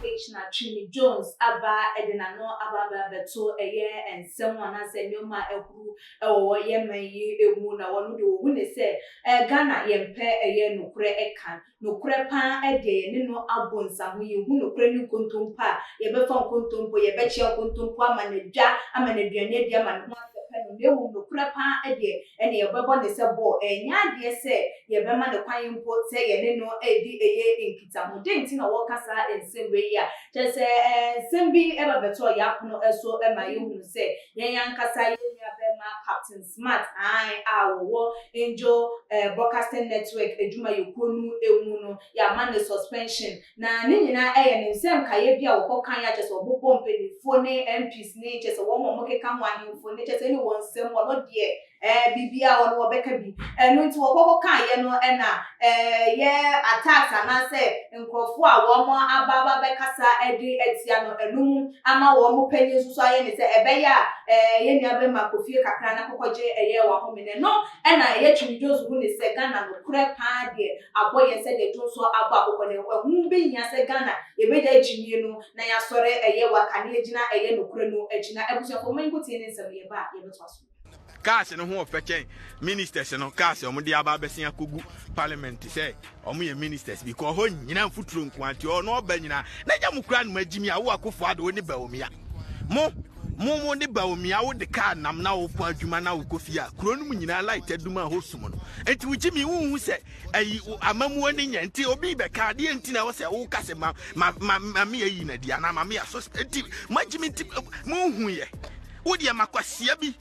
Afei na Twene Jones aba de n'ano aba abɛto ɛyɛ nsɛm anaasɛ nneɛma a ahuru wɔ yɛn man yi mu na wɔn de wɔhu no sɛ Ghana yɛmpɛ ɛyɛ nokorɛ ka. Nokorɛ paa ɛdeɛ yɛne no abɔ nsaho yɛhu nokorɛ ne nkontompo a yɛbɛfa nkontompo yɛbɛkyea nkontompo ama no adwa ama no aduane adi ama ne ho asɛpɛ no na mmom nokorɛ paa ɛdeɛ ɛne yɛbɛbɔ ne sɛ bɔ ɛnyɛ adeɛ sɛ yɛbɛma no kwan mpo sɛ yɛne no redi ɛyɛ nkitaho dɛn nti na wɔka saa nsɛm wei a kyerɛ sɛ nsɛm bi ɛba bɛtɔ yɛapono so ma yɛhunu sɛ yɛn ankasa yɛn nuabɛɛma Captain Smart Ae a wɔwɔ Angel Broadcasting Network adwumayɛkuo no mu no yɛama no suspension na ne nyinaa yɛ ne nsɛm nkaeɛ bi a wɔkɔ kan a kyɛsɛ wɔbobɔ mpaninfoɔ ne MPs ne kyɛsɛ wɔn a wɔkeka ho ahenfo ne kyɛsɛ ɛne wɔn nsɛm wɔn deɛ biribiara wɔn wɔbɛka bi ɛno nti wɔkɔ kɔ kaeɛ no na ɛyɛ attacks anaasɛ nkorɔfoɔ a wɔn aba aba bɛkasa de atia no ɛno mu ama wɔn panyin nso so ayɛ ne sɛ ɛbɛyɛ a ɛɛ yɛn nua bɛma kɔ fie kakra na kɔkɔ gye ɛyɛ w'ahome no ɛno ɛna ɛyɛ Twum Jones hu ne sɛ Ghana nokorɛ paa deɛ abɔ yɛn sɛdeɛ Jones so abɔ akokɔ no ɛho bɛ hia sɛ Ghana yɛbɛgyae gyimie no na yɛasɔre ɛyɛ waka na yɛagyina ɛyɛ nokorɛ no akyi na abusuafoɔ momma yɛnkɔ tie ne nsɛm no yɛba a yɛbɛtoa so. Cars no ho ɔfɛ kyɛn ministers no cars wɔn de aba abɛsen akɔgu parliament sɛ wɔn yɛ ministers bi kɔ hɔ nyina mfuturo nko anti ɔ na ɔba nyina na nya mo kura no agyimi a wo akofo ado wo ne baomia mo mo mo ne baomia wo de kaa nam na wokɔ adwuma na wokɔ fie a kuro no mu nyinaa light adum a hɔ sum no nti wo gyimi wo hu sɛ ayi amamuo ne nyɛ nti obi bɛka adeɛ nti na ɛwɔ sɛ wo kase ma ma ma ma me ayi na di anaa ma me aso nti mo agyimi nti mo hu yɛ Wo deɛ ma kwasia bi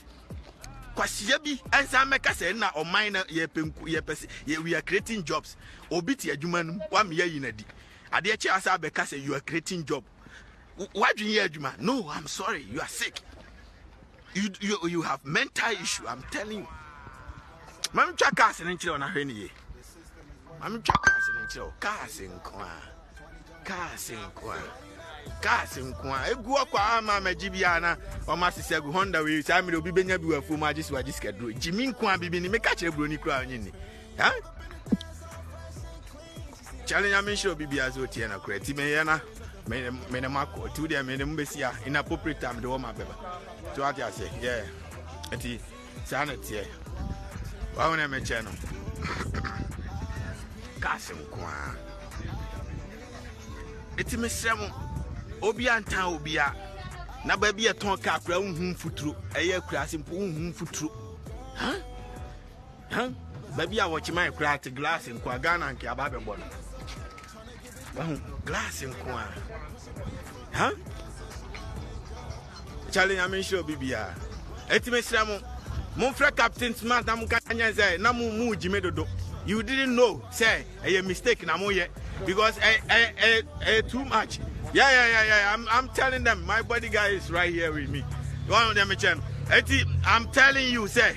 kwasia bi ɛnsan mɛka sɛ na ɔman na yɛpɛ nku yɛpɛ sɛ yɛ we are creating jobs obi te adwuma no mu wame yɛ yi na di adeɛ kyɛ asa abɛka sɛ you are creating job wadwen yɛ adwuma no i'm sorry you are sick you you, you have mental issue i'm telling you maame twa cars ne nkyerɛ ɔna hwɛ ne yie. Mami twa cars ne nkyerɛ o. Cars nko a. Cars nko a. Cars nko a. Egu akwa ama ma gyi bia na ɔma sisi agu Honda wei saa mere obi benya bi wɔ afuo mu agye so agye sika duro. Gyi mi nko a bibi ni meka kyerɛ buro ni kura onye ni. Ha? Kyale nyame nhyira obi bia so tie na kura ti me yɛ na me ne makɔ ti wo deɛ me ne mu bɛsi a inappropriate time de wɔ ma bɛba so ate aseɛ yeah ɛti saa na teɛ wawo na ɛmɛkyɛ no ka asɛm ko a ɛti mesrɛ mo obia ntan obia na baabi ɛtɔn ka akora wohu mfuturo ɛyɛ akura ase mpo wohu mfuturo baabi a wɔkyema ɛkora te glass nkoa ghana nke aba bɛbɔ no wahu glass nko a ha kyale nyame nhyira obi biara ɛti mesrɛ mo momfrɛ captain smart na moka nyɛ sɛ na mo mu gyime dodo you didn't know sɛ ɛyɛ mistake na moyɛ because ɛyɛ eh, eh, eh, eh, too much yeah yeah yeah yeah I'm, I'm telling them my body guy is right here with me wɔn deɛ mekyɛ no ɛti I'm telling you sɛ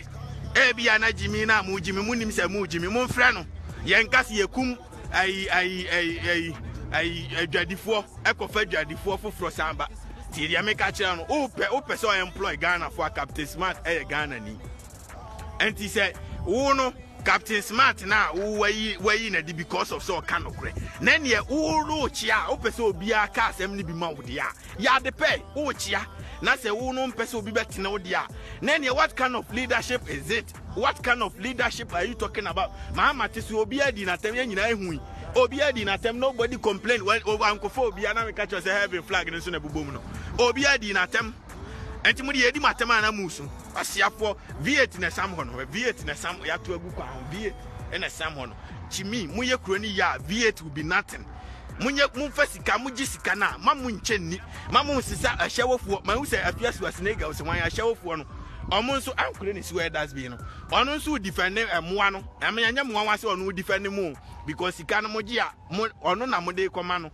ɛbi a na gyimi na mo gyimi mo nim sɛ mo gyimi momfrɛ no yɛn kasi yɛ kum Ayi, ayi, ayi, ayi, ayi, adwadifoɔ ɛkɔfa adwadifoɔ foforɔ san ba. Tie deɛ meka kyerɛ no, wopɛ wopɛ sɛ ɔemploy Ghanafoɔ a Captain Smart ɛyɛ Ghana ni. Ɛnti sɛ wo no Captain Smart no a wayi wayi na de because of sɛ ɔka nokorɛ. Na neɛ wo no wokyea a wopɛ sɛ obiara ka asɛm no bi ma wo deɛ a, yɛ ade pɛ, wokyea. Na sɛ wo no mpɛ sɛ obi bɛtene wo deɛ a, na neɛ what kind of leadership is it? What kind of leadership are you talking about? Maa ma te sɛ obiara di n'atɛm yɛn nyinaa ehu yi. Obiara di n'atɛm nobody complain when oh, ankɔfo obiara na meka kyerɛ sɛ heaven flag no nso na ɛbobom no. Obiara di n'atɛm. Ɛnti mo de yɛdi mo atɛm a na mo so. Wasiafoɔ V8 na ɛsam hɔ no. V8 na ɛsam yɛato agu kwan ho V8 na ɛsam hɔ no. Kyimi mo yɛ kuro no yɛ a V8 will be nothing. Monyɛ momfa sika mo gye sika no a ma mo nkyɛ nni. Ma mo nsesa ahyɛwofoɔ. Ma ehu sɛ afiasuasinegals wɔn ahyɛwofoɔ no. Ɔmo nso ankorɛ ne sewell das bi no ɔno nso wo defend mmoa no ɛme ɛnyɛ mmoa wa sɛ ɔno wo defend mu because sika no mo gye a mo ɔno na mo de kɔ ma no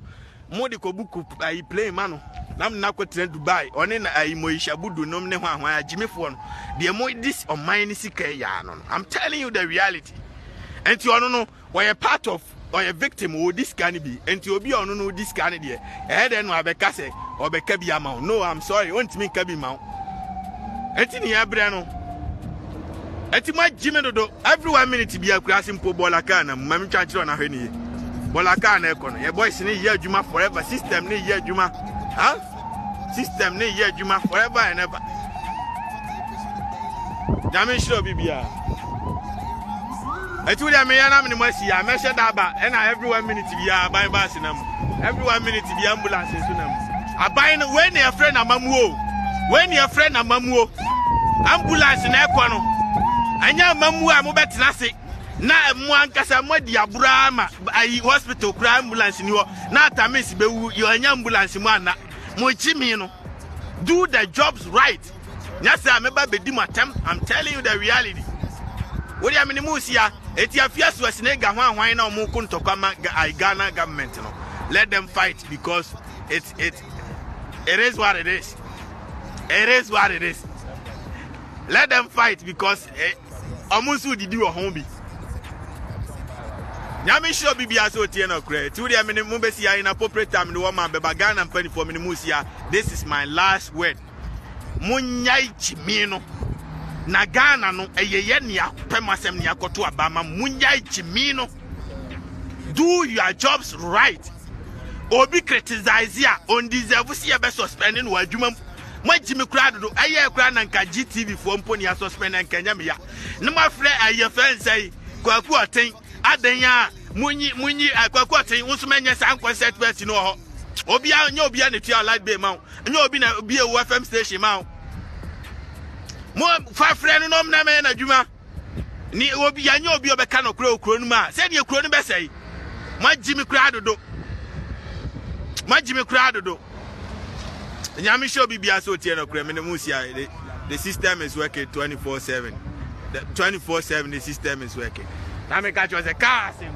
mo de kɔ buku ayi plane ma no na mo na kɔ tena Dubai ɔne na ayi mo isha budu nom ne ho ahoa ya gyimi foɔ no deɛ mo dis ɔman ne sika ya no no I'm telling you the reality ɛnti ɔno no Ɔyɛ part of ɔyɛ victim ɔdi sika no bi nti obi a ɔno no ɔdi sika no deɛ ɛyɛ dɛn no abɛka sɛ ɔbɛka bi ama wo no I'm sorry ɔntumi nka bi ma wo nti ne yɛbrɛ no nti mo agyi me dodo every one minute bi akura ase mpo bɔɔla kaa na mu ma metwa nkyerɛ ɔna hwɛ ne yie bɔɔla kaa na ɛkɔ no yɛ boys ne yɛ adwuma forever system ne yɛ adwuma ha system ne yɛ adwuma forever and ever nyame nhyira obi biara ɛti wodeɛ meyɛ na mene mu asi a mɛhyɛ da aba ɛna every one minute biara aban baase na mu every one minute biara ambulance nso na mu aban no wei ne ɛfrɛ na mamuo wei ne ɛfrɛ na mamuo ambulance na ɛkɔ no ɛnyɛ mamuo a mobɛtena ase na mo ankasa mo adi aboro ara ma ayi hospital kura ambulance ni hɔ na atamis bɛwu yɛanya ambulance mu anna mo nkyi me no do the jobs right nyɛ sɛ a mɛba bɛdi mo atɛm i'm telling you the reality wodeɛ mene mu sia ɛti afia so asine ga ho ahwan na ɔmo ko ntɔkwa ma ghana government no let them fight because it, it, it is what it is it is what it is let them fight because ɔmo nso didi wɔ ho bi nyame hyira obi biara sɛ ɔtie no korɛ nti wodeɛ mene mo bɛsi ayi na popre tam ne wɔma bɛba ghana mpanifoɔ mene mo sia this is my last word monyae gyimi no na ghana no ɛyɛyɛ nea pɛm asɛm nea kɔto aba ma monyae gyimi no do your jobs right obi criticize a ɔndeserve sɛ yɛbɛ suspend no wɔ adwuma mu Moagye me koraa dodo ɛyɛɛ koraa na nka GTV foɔ mpo ne asusspend nka ɛnyɛ me ya na moafrɛ ɛyɛ fɛ nsɛ yi kwaku ɔten adɛn a munyi munyi eh, kwaku ɔten wo nso mɛnyɛ saa nkɔnsɛt bɛsi no wɔ hɔ obia nyɛ obia na tua light bay ma wo nyɛ obi na bie wo fm station ma wo mo fa frɛ no nom na mɛyɛ n'adwuma ne obi yɛnyɛ obi a ɔbɛka nɔkorɛ wɔ kuro no mu a sɛdeɛ kuro no bɛsɛe moagye me koraa dodo moagye me koraa dodo nyame hyɛ obi biara sɛ ɔtie nɔkorɛ me ne mo sia the system is working 24 7 the 24 7 the system is working na meka kyerɛ sɛ kaa asɛm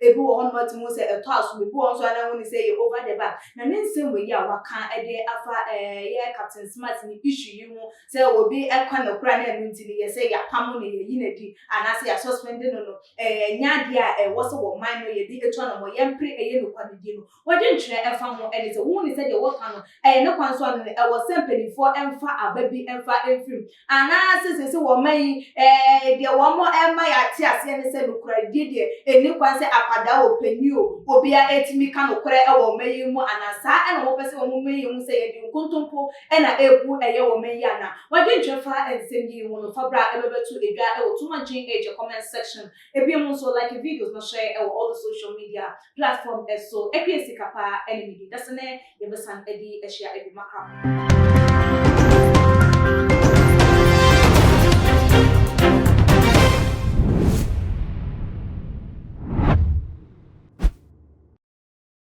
Ebi wɔ hɔ no moatumi ahu sɛ ɛtɔ asom, ebi wɔ hɔ nso a na wonni sɛ ɛyɛ over the bar. Na ne nsɛm wei a waka de afa ɛyɛ Captain Smart ne issue yi ho sɛ obi kɔ no koraa na ɛno nti no yɛsɛ yɛapamo no, yɛayi no adi anaasɛ yɛasuspende no no, ɛnyɛ adeɛ a ɛwɔ sɛ ɔman no yɛde tu anamɔ. Yɛmpere ɛyɛ nokware di no. W'adwenkyerɛ ɛfa ho ɛne sɛ wohu ne sɛdeɛ wɔka no ɛyɛ ne kwan so anaa ɛwɔ sɛ mpaninfoɔ mfa aba bi mfa mfiri mu anaa sɛ seesei wɔ ɔman yi ɛɛ deɛ wɔn ɛrema yɛate aseɛ ne sɛ nokorɛdie deɛ ɛnni kwan sɛ akwadaa o panin o obiara ɛtumi ka nokorɛ ɛwɔ ɔman yi mu anaa saa ɛna wɔpɛ sɛ wɔn ma yɛhu sɛ yɛde nkontompo ɛna ɛrebu ɛyɛ wɔ ɔman yi anaa? W'adwenkyerɛ fa nsɛm yi ho no fa bra ɛbɛbɛto dwa ɛwɔ Too Much Gin Age comment section Ebiem nso like videos no hyɛ ɛwɔ all the social media platform ɛso ɛkue sika paa ɛne midi dase nɛ yɛbɛsan ɛdi ɛhyia ɛbi makram.